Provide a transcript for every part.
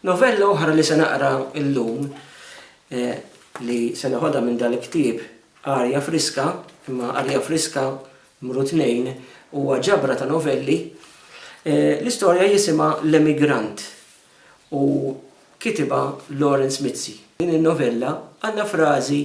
Novella oħra li se naqra llum li se neħodha minn dan il-ktieb Arja Friska, imma Arja Friska mru tnejn huwa ġabra ta' novelli. L-istorja jisimha L-Emigrant u kitibha Lawrence Mizzi. Din in-novella għandha frażi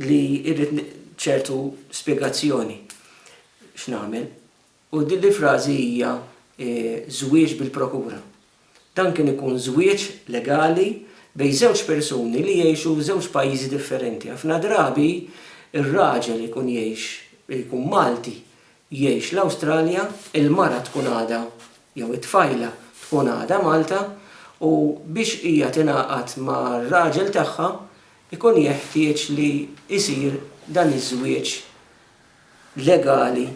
li rrid ċertu spjegazzjoni x'nagħmel. U din l-frażi hija żwieġ bil-prokura. Dan kien ikun żwieġ legali bejn żewġ persuni li jgħixu f'żewġ pajjiżi differenti. Ħafna drabi r-raġel ikun jgħix, ikun Malti, jgħix l-Awstralja, il-mara tkun għadha, jew it-tfajla, tkun għadha Malta, u biex hija tingħaqad mar-raġel tagħha, ikun jeħtieġ li jsir dan iż-żwieġ legali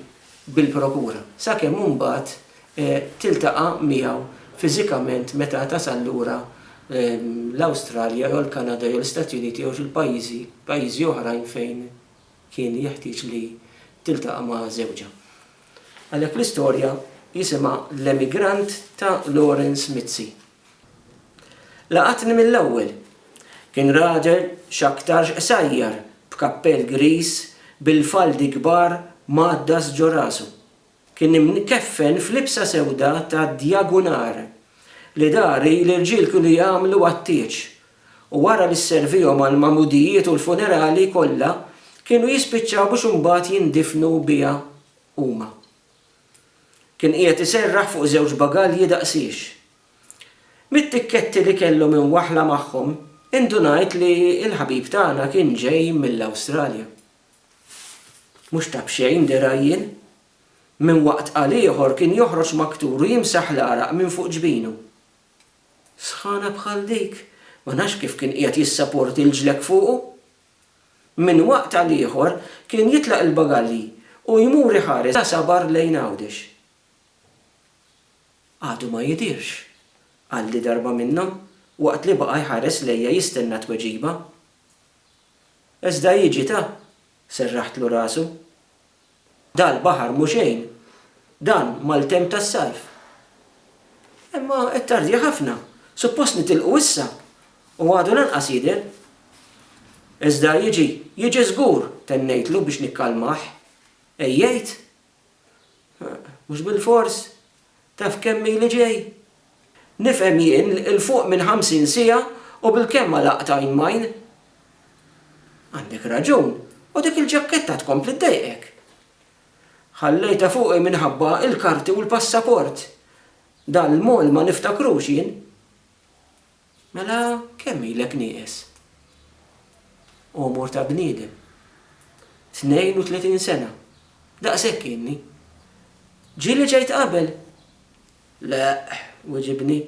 bil-prokura, sakemm imbagħad tiltaqa' miegħu fiżikament meta tasal lura l-Awstralja jew l-Kanada jew l-Istati Uniti jew xi pajjiżi pajjiżi oħrajn fejn kien jeħtieġ li tiltaqa' ma' żewġha. Għalhekk l-istorja jisimha L-Emigrant ta' Lawrence Mizzi. Laqatni mill-ewwel. Kien raġel x'aktarx qsajjar b'kappell griż bil-faldi kbar mgħaddas ġo rasu. Kien imkeffen f'libsa sewda ta' djagunar li dari l-irġiel kienu jagħmlu għat-tieġ u wara li sservihom għall-magħmudijiet u l-funerali kollha kienu jispiċċaw biex imbagħad jindifnu biha huma. Kien qiegħed iserraħ fuq żewġ bagalji daqsiex. Mit-tikketti li kellhom imwaħħla magħhom, indunajt li l-ħabib tagħna kien ġej mill-Awstralja. Mhux ta' b'xejn dirgħi jien. Minn waqt għal ieħor kien joħroġ maktur u jimsaħ l-għaraq minn fuq ġbinu. Sħana bħal dik, ma nafx kif kien qiegħed jissaporti l-ġlekk fuqu! Minn waqt għal ieħor kien jitlaq il-bagalji u jmur iħares la sabar lejn Għawdex. Għadu ma jidhirx, qalli darba minnhom waqt li baqa' jħares lejja jistenna tweġiba. Iżda jiġi ta! serraħtlu rasu. Dal-baħar mhu xejn dan mal-temp tas-sajf. Imma qed tardjah ħafna. Suppost nitilqu issa u għadu lanqas jidher. Iżda jiġi, jiġi żgur, tennejtlu biex nikkalmah. Għejjejt. Mhux bilfors. Taf kemm ili ġej? Nifhem jien 'l fuq minn ħamsin siegħa u bilkemm għalaqt għajn m'għajn. Għandek raġun, u dik il-ġakketta tkompli ddejqek. Ħallejtha fuqi minħabba l-karti u l-passaport. Dan l-mall ma niftakrux jien. Mela kemm ilek nieqes? Għomor ta' bniedem. Tnejn u tletin sena. Daqshekk ilni. Ġieli ġejt qabel? Le, wiġibni.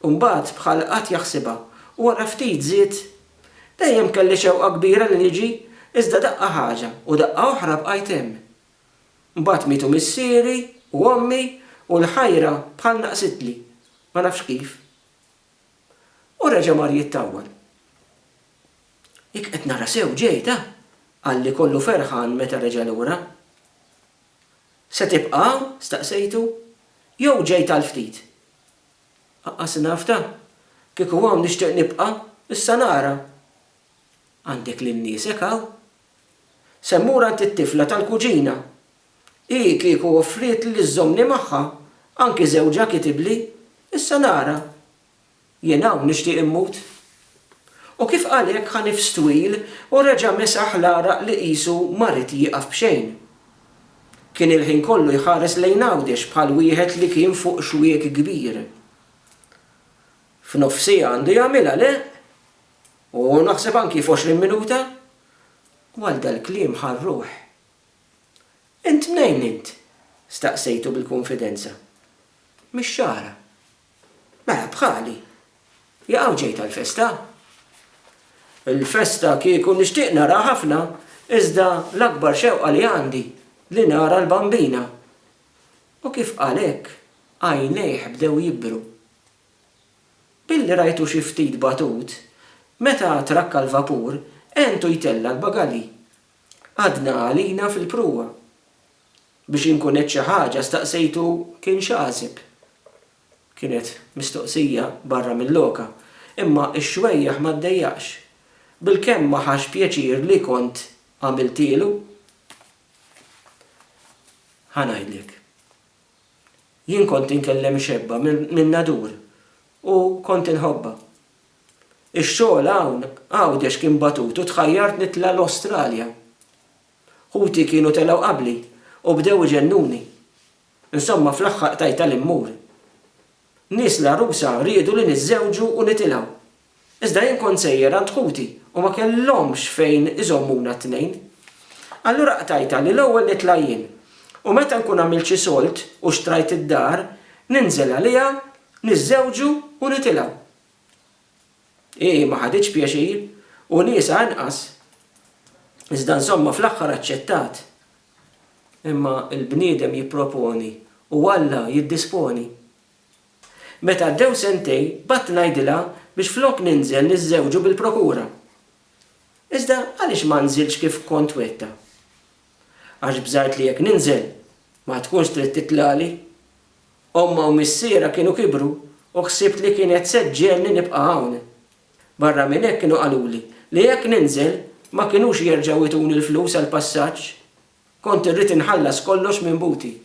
Imbagħad bħal qagħad jaħsibha u wara ftit żied, Dejjem kelli xewqa kbira li niġi, iżda daqqa ħaġa u daqqa oħra bqajt hemm. Imbagħad mietu missieri u ommi u l-ħajra bħal naqsitli. Ma nafx kif. U reġa' mar jittawwal. Jekk qed nara sew ġejt, ha? qalli kollu ferħan meta reġa' lura. Se tibqa' hawn? staqsejtu. Jew ġejt għal ftit? Aqqas naf, ta. Kieku hawn nixtieq nibqa', issa nara. Għandek lil niesek hawn? Se mmur għand it-tifla tal-kuġina. Hi kieku offrietli li żżommni magħha, anki żewġha kitibli, issa nara. Jien hawn nixtieq immut. U kif qal hekk ħa nifs twil u reġa' mesaħ l-għaraq li qisu ma ried jieqaf b'xejn. Kien il-ħin kollu jħares lejn Għawdex bħal wieħed li kien fuq xwiek kbir. F'nofsiha għandu jagħmilha, le? U naħseb anki f'għoxrin minuta, Għal dal-kliem ħa r-ruħ. Int mnejn int? staqsejtu bil-kunfidenza. Mix-Xagħra. Mela bħali. Jaqaw ġejt għall-festa? Il-festa kieku nixtieq naraha ħafna, iżda l-akbar xewqa li għandi li nara l-Bambina. U kif qal hekk, għajnejh bdew jibru. Billi rajtu xi ftit batut, meta trakka l-vapur, għentu jtella' l-bagalji. Għadna għalina fil-pruwa. Biex inkun għedt xi ħaġa staqsejtu kien x'għaseb. Kienet mistoqsija barra mil-loka, imma x-xwejjaħ ma ddejjaqx. Bilkemm ma ħax pjaċir li kont għamiltielu. Ħa ngħidlek. Jien kont inkellem ix-xebba min-nadur u kont inħobbha. Ix-xogħol hawn Għawdex kien batut u tħajjart nitla' l-Awstralja. Ħuti kienu telgħu qabli u bdew iġennuni. Insomma fl-aħħar qtajtha li mmur. Nies l-għarusa riedu li niżżewġu u nitilgħu. Iżda jien kont sejjer għand ħuti u ma kellhomx fejn iżommuna t-tnejn. Allura qtajtha li l-ewwel nitla' jien, u meta nkun għamilt xi sold u xtrajt id-dar, ninżel għaliha, niżżewġu u nitilgħu. Hi ma ħaditx pjaċir, u niesha anqas. Iżda insomma fl-aħħar aċċettat. Imma l-bniedem jipproponi u Alla jiddisponi. Meta għaddew sentejn bgħadt ngħidilha biex flok ninżel niżżewġu bil-prokura. Iżda għaliex ma nżiltx kif kont wegħdtha? Għax bżajt li jekk ninżel ma tkunx trid titlagħli. Ommha u missierha kienu kibru u ħsibt li kienet se ġġegħelni nibqa' hawn. Barra minn hekk kienu qaluli li jekk ninżel ma kinux jerġgħu jtuni l-flus għall-passaġġ Kont irrid inħallas kollox minn buti.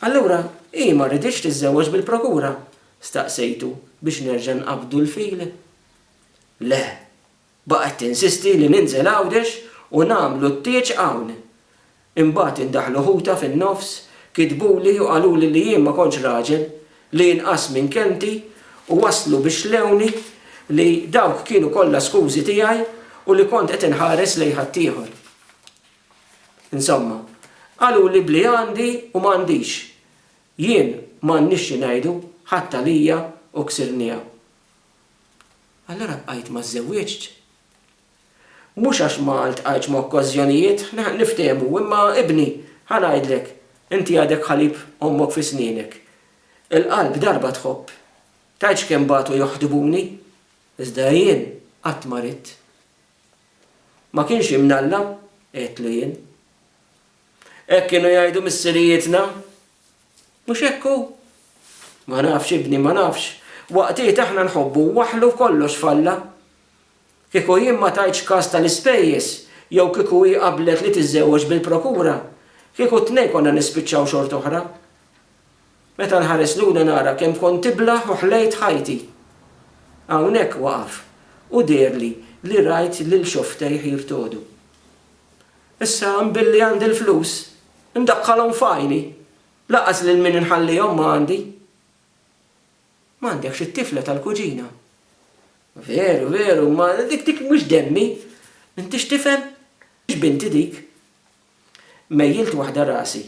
Allura hi ma riditx tiżżewweġ bil-prokura? staqsejtu biex nerġa' nqabbdu l-fil. Le, baqgħet tinsisti li ninżel Għawdex u nagħmlu t-tieġ hawn. Imbagħad indaħlu ħutha fin-nofs, kitbuli u qaluli li jien ma kontx raġel, li inqass minn kelmti u waslu biex lewni li dawk kienu kollha skużi tiegħi u li kont qed inħares lejn ħaddieħor. Insomma, qaluli b'li għandi u m'għandix. Jien m'għandniex xi ngħidu, ħadt għalija u ksirniha. Allura bqajt ma żżewwiġtx. Mhux għax ma ltqajtx ma' okkażjonijiet, niftehmu, imma ibni, ħa ngħidlek, inti għadek ħalib ommok fi snienek. Il-qalb darba tħobb. Tgħidx kemm batu joħdbuni, iżda jien qatt ma ridt. Ma kienx imnalla? għidtlu jien. Hekk kienu jgħidu missirijietna. Mhux hekk hu? Ma nafx, ibni, ma nafx. Waqtiet aħna nħobbu waħlu f'kollox f'Alla. Kieku jien ma tajtx kas tal-ispejjeż jew kieku hi qablet li tiżżewweġ bil-prokura, kieku t-tnejn konna nispiċċaw xort'oħra. Meta nħares lura nara kemm kont tiblah u ħlejt ħajti. Hawnhekk waqaf u deherli li rajt lil xofftejh jirtogħdu. Issa billi għandi l-flus, indaħħalhom f'għajni, lanqas lil min inħallihom ma għandi. M'għandekx it-tifla tal-kuġina? Veru, veru, imma dik dik mhux demmi. Intix tifhem? Mhux binti dik. Mejjilt waħda rasi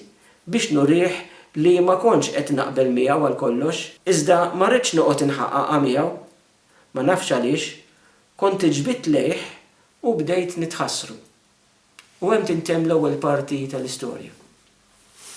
biex nurih li ma kontx qed naqbel miegħu għal kollox. Iżda ma ridtx noqgħod inħaqaqa miegħu. Ma nafx għaliex, kont iġbidt lejh u bdejt nitħassru. U hemm tintemm l-ewwel parti tal-istorja.